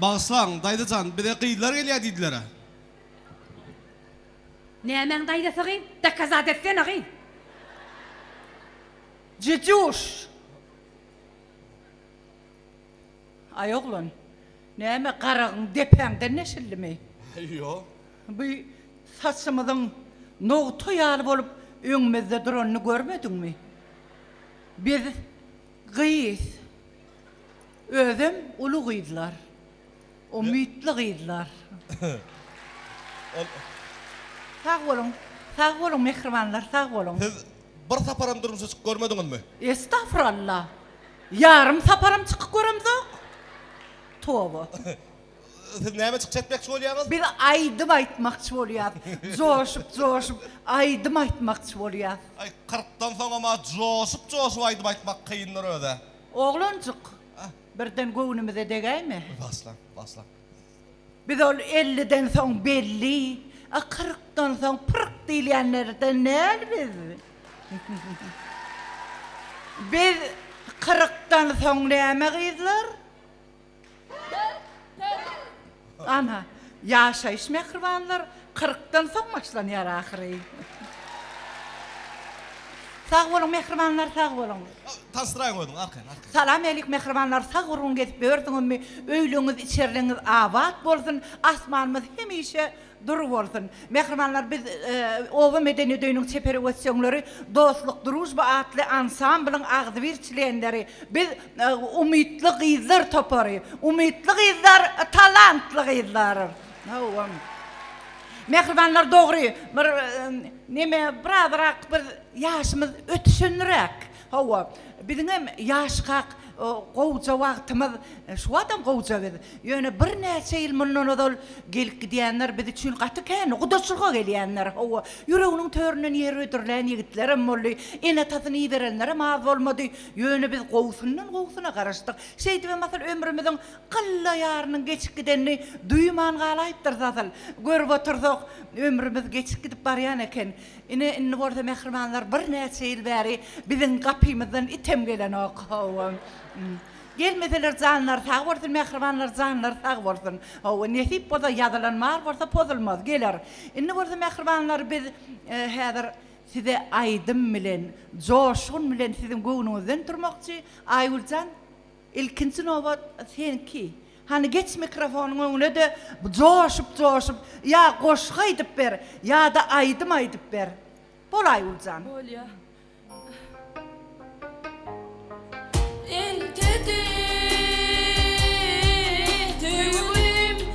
Bagyşlaň, daýza jan, bize gyzlar gelýär diýdiler-ä. Nämäň daýzasy gyn? Dokazat etsene gyn! Cücüş! Aý oglan, näme garagyň depäňden deşildimi? Ýok. Bu saçymyzyň nogta ýaly bolup öňümizde duranyny görmediňmi? Biz gyz, özem uly gyzlar. Umytly gyzlar. Sag boluň, sag boluň mähribanlar, sag boluň. Siz bir saparam durmuşa çykyp görmediňizmi? Estagfuralla! Ýarym saparam çykyp göremzok. Toba! Siz näme çykyş etmekçi bolýaňyz? Biz aýdym aýtmakçy bolýas. Joşup, joşup aýdym aýtmakçy bolýas. Aý, kyrkdan soňam-a joşup, joşup aýdym aýtmak kyndyr öz-ä. Oglanjyk! Birden göwnümize degäýme. Basla, basla. Biz ol elliden soň belli, a kyrkdan soň pyrk diýilýänlerden däl biz. Biz kyrkdan soň näme gyzlar? Pyrk, pyrk. Ana, ýaşaýyş mähribanlar kyrkdan soň başlanýar ahyry. Sag boluň mähribanlar sag boluň. Tassraý goýduň arkaýyn arkaýyn. Salam elyk mähribanlar sag gurgun gezip ýördüňizmi öýlüňiz içerligiňiz abat bolsun asmanymyz hemişe Dur bolsun. Mähribanlar biz Oba medeniýet öýüniň çeper ösjeňleri Dostluk Drujba atly ansamblyň agzybir çlenleri. Biz Umytly gyzlar topary. Umytly gyzlar talantly gyzlar. Hawa. Mähribanlar dogry bir neme birazrak biz ýaşymyz ötüşenräk. Hawa, biziňem ýaşkak gowja wagtymyz şu adam gowja biz. Ýöne birnäçe ýyl mundan ozal gelip gidýänler biz üçin gaty kän, gudaçylyga gelýänler, hawa, ýüreginiň töründen ýer hödürlän ýigitlerem boldy, ene-atasyny iberenlerem az bolmady. Ýöne biz gowusyndan gowusyna garaşdyk. Şeýdibem asyl ömrümiziň gylla ýarynyň geçip gidenini duýman galaýypdyrys asyl. Görüp otursak, ömrümiz geçip gidip barýan eken. Ine, indi bolsa mähribanlar birnäçe ýyl bäri biziň gapymyzdan item gelenok. Hawa. Gelmeseler janlary sag bolsun, mähribanlar janlary sag bolsun. Hawa, nesip bolsa, ýazylan bar bolsa pozulmaz, geler. Indi bolsa mähribanlar biz häzir size aýdym bilen, joşgun bilen siziň göwnüňizden turmakçy. Aýgül jan! Ilkinji nobat senki. Hany geç mikrofonyň öňüne-de joşup joşup ýa goşgy aýdyp ber, ýa-da aýdym aýdyp ber. Bol Aýgül jan. Bolýa. Eltedi söýgülim.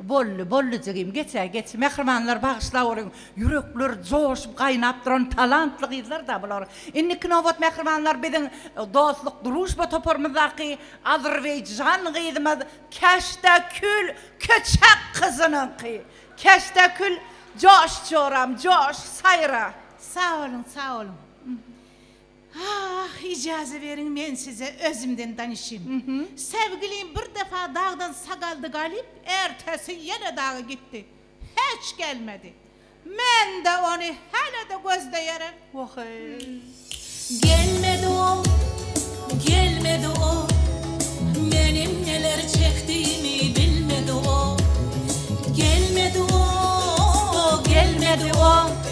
Bolly bolly jigim geçä geç. Mähribanlar bagyşlap olyň. Ýürekler joşup gaýnap duran talantly gyzlar da bular. Indiki nobat mähribanlar biziň Dostluk družba toparymyzdaky Azerbaýjan gyzymyz Keşdäkül Köçek gyzynyňky. Keşdäkül joş joram joş saýra. Sag boluň sag boluň. Ah, ijaze beriň men size özümden danyşyň. Säwgilim bir defa dagdan sagaldy galyp, ertesi ýene daga gitdi. Hiç gelmedi. Men-de ony hälede gözleýärem. Wah-eý. Gelmedi ol, gelmedi ol. Meniň neler çekdiýimi bilmedi ol. Gelmedi ol, gelmedi ol.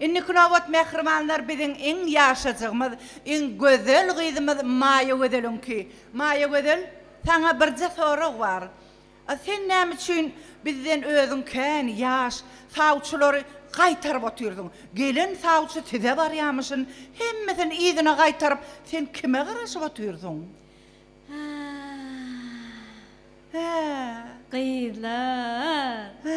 Indiki nobat mähribanlar biziň iň ýaşajygymyz, iň gözel gyzymyz Maýagözeliňki. Maýagözel, saňa birje sorag bar. A sen näme üçin bizden özüň kän ýaş sawçylary gaýtaryp otyrdyň? Gelen sawçy size barýamyşyn, hemmesini yzyna gaýtaryp, sen kime garaşyp otyrdyň? Hä. Hä. Gyzlar. Hä.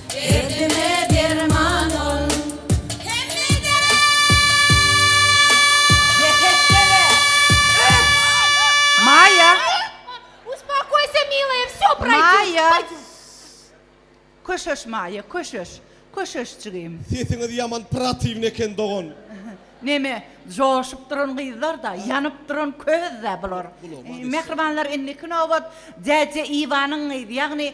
Derdime derman ol hemmede. Ýekeşdele! Öt! Maýa! Uspokojsa, milaya, vsё proýdýut. Maýa! Köşeş, Maýa, köşeş! Köşeşjigim! Sesiňiz ýaman pratiwny eken dogan. Neme, joşup duran gyzlar-da, ýanyp duran köz-dä bular. Mähribanlar, indiki nobat Dädje Iwanyňyz, ýagny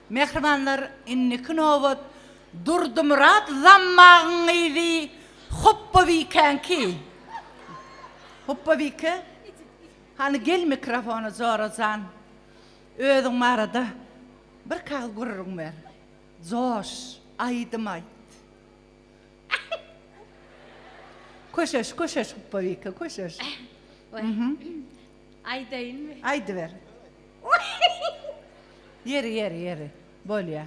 Mähribanlar indiki nobat Durdymyrat Zammagyň gyzy Hopbabikänki. Hopbabike, hany gel mikrofona Jora jan. Özüň barada bir kagyz gürrüň ber. Joş, aýdym aýt. Köşeş, köşeş Hopbabike, köşeş. Aýdaýynmy? Aýdyber. Ýeri, ýeri, ýeri. Bolýa.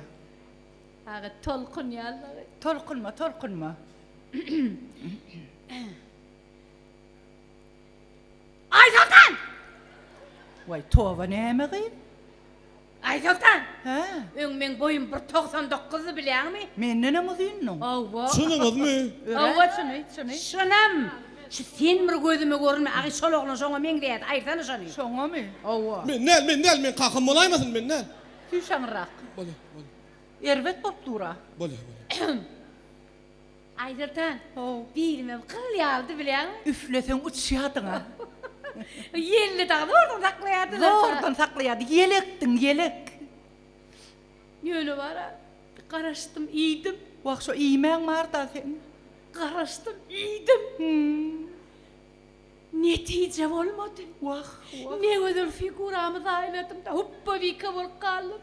Aga, tolkunýanlagy. Tolkunma, tolkunma. Aýsoltan! Waý, toba näme gyz? Aýsoltan! Hä? Öň meň boýum bir togsan dokuzdy, bilýäňmi? Mendenem uzyndyň. Hawa. Çynyňyzmy? Örän. Hawa, çyny, çyny. Çynam! Şu sen bir gözüme görünme, agy şol oglan şoňa meňzeýärdi, aýtsana şony. Şoňamy? Hawa. Men däl, men däl, men kakam bolaýmasyn, men däl. Süýş aňyrrak. Bolýa, bolýa. Erbet bolup dur-a. Bolýa, bolýa. Aýdertan, how, bilimem gyl ýalydy bilýäňmi? Üfleseň uçýardyň-a. Ýelini dagy zordan saklaýardylar-da. Zordan saklaýardy. Ýelekdiň, ýelek. Ýöne bar-a, bir garaşdym, iýdim. Wah, şo iýmäň bar-da seň. Garaşdym, iýdim. Hum. Netije bolmady. Wah, wah. Ne gözel figuramy zaýaladym-da, hupbawika bolup galdym.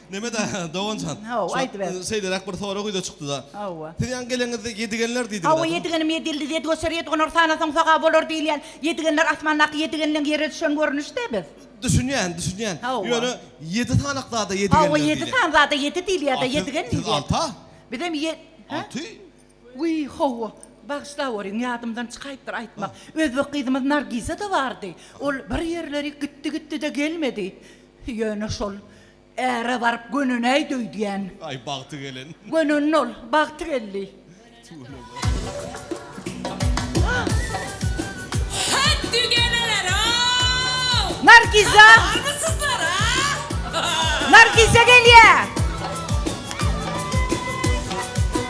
Nemeda doganjan. Hawa, aýdyber. Şeýleräk bir sorag ýüze çykdyda. Hawa. Siz ýaňy gelenizde ýedigenler diýdiňiz. Hawa, ýedigenim ýedildi, ýedi göçer, ýedi gonar, sanasaň sogap bolar diýilýän ýedigenler asmandaky ýedigenleň ýere düşen görnüşde biz. Düşünýän, düşünýän. Hawa. Ýöne ýedi sanak zada ýedigenler diýilýär. Hawa, ýedi san zada ýedi diýilýärda, ýedigen diýilýär. Siz alta? Bizem ýe. Alty? Wiý, hawa. Bagyşlap görüň, ýadymdan çykaýypdyr aýtmak. Özbek gyzymyz Nargiza-da bardy. Ol bir ýerlerik gitdi-gitdi-de gelmedi. Ýöne şol Äre baryp gönünäý döýdýän. Aý bagty gelen. Gönün ol, bagty geldi. Hätdi geleler-ow! Nargiza! Barmy syzlar, a? Nargiza gelýä!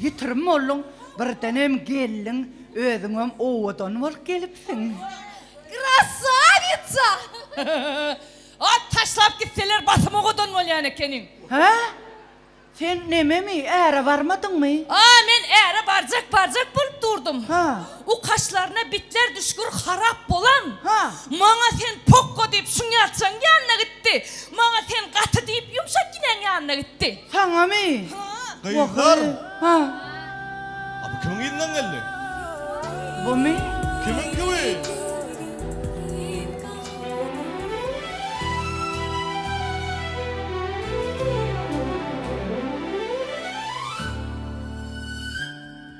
Ýitirim bolduň, birdenem geldiň, özüňem owadan bolup gelipsiň. Krasawitsa! At taşlap gitseler basym owadan bolýan ekeniň. Hä? Sen nememi, äre barmadyňmy? A, men äre barjak, barjak bolup durdum. Hä? U kaşlaryna bitler düşgür harap bolan. Ha. Maňa sen pokko diýip şuňňalçaň ýanyna gitdi. Maňa sen gaty diýip ýumşak ginäň ýanyna gitdi. Saňamy? Ha. Gyzlar. Ha. A bu kimiň yzyndan geldi? Bumy? Kimiňki bu?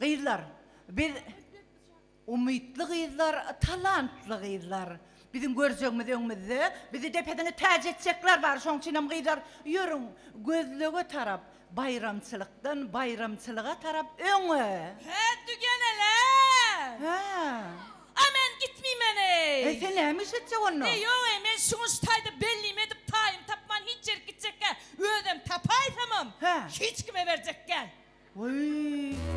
Gyzlar biz umytly gyzlar talantly gyzlar biziň görjegimiz öňümizde bizi depesine täç etjekler bar şoň üçinem gyzlar ýörüň gözlege tarap baýramçylykdan baýramçylyga tarap öňe Hä dügenelem. Hä. A men gitmeýmen eý. Eý sen näme iş etjek onda. Eý ýok eý men şuňa şu taýda bellimi edip taýymy tapman hiç ýerik gitjekgä özem tapaýsamam Hä. hiç kime berjekgän. Wüý.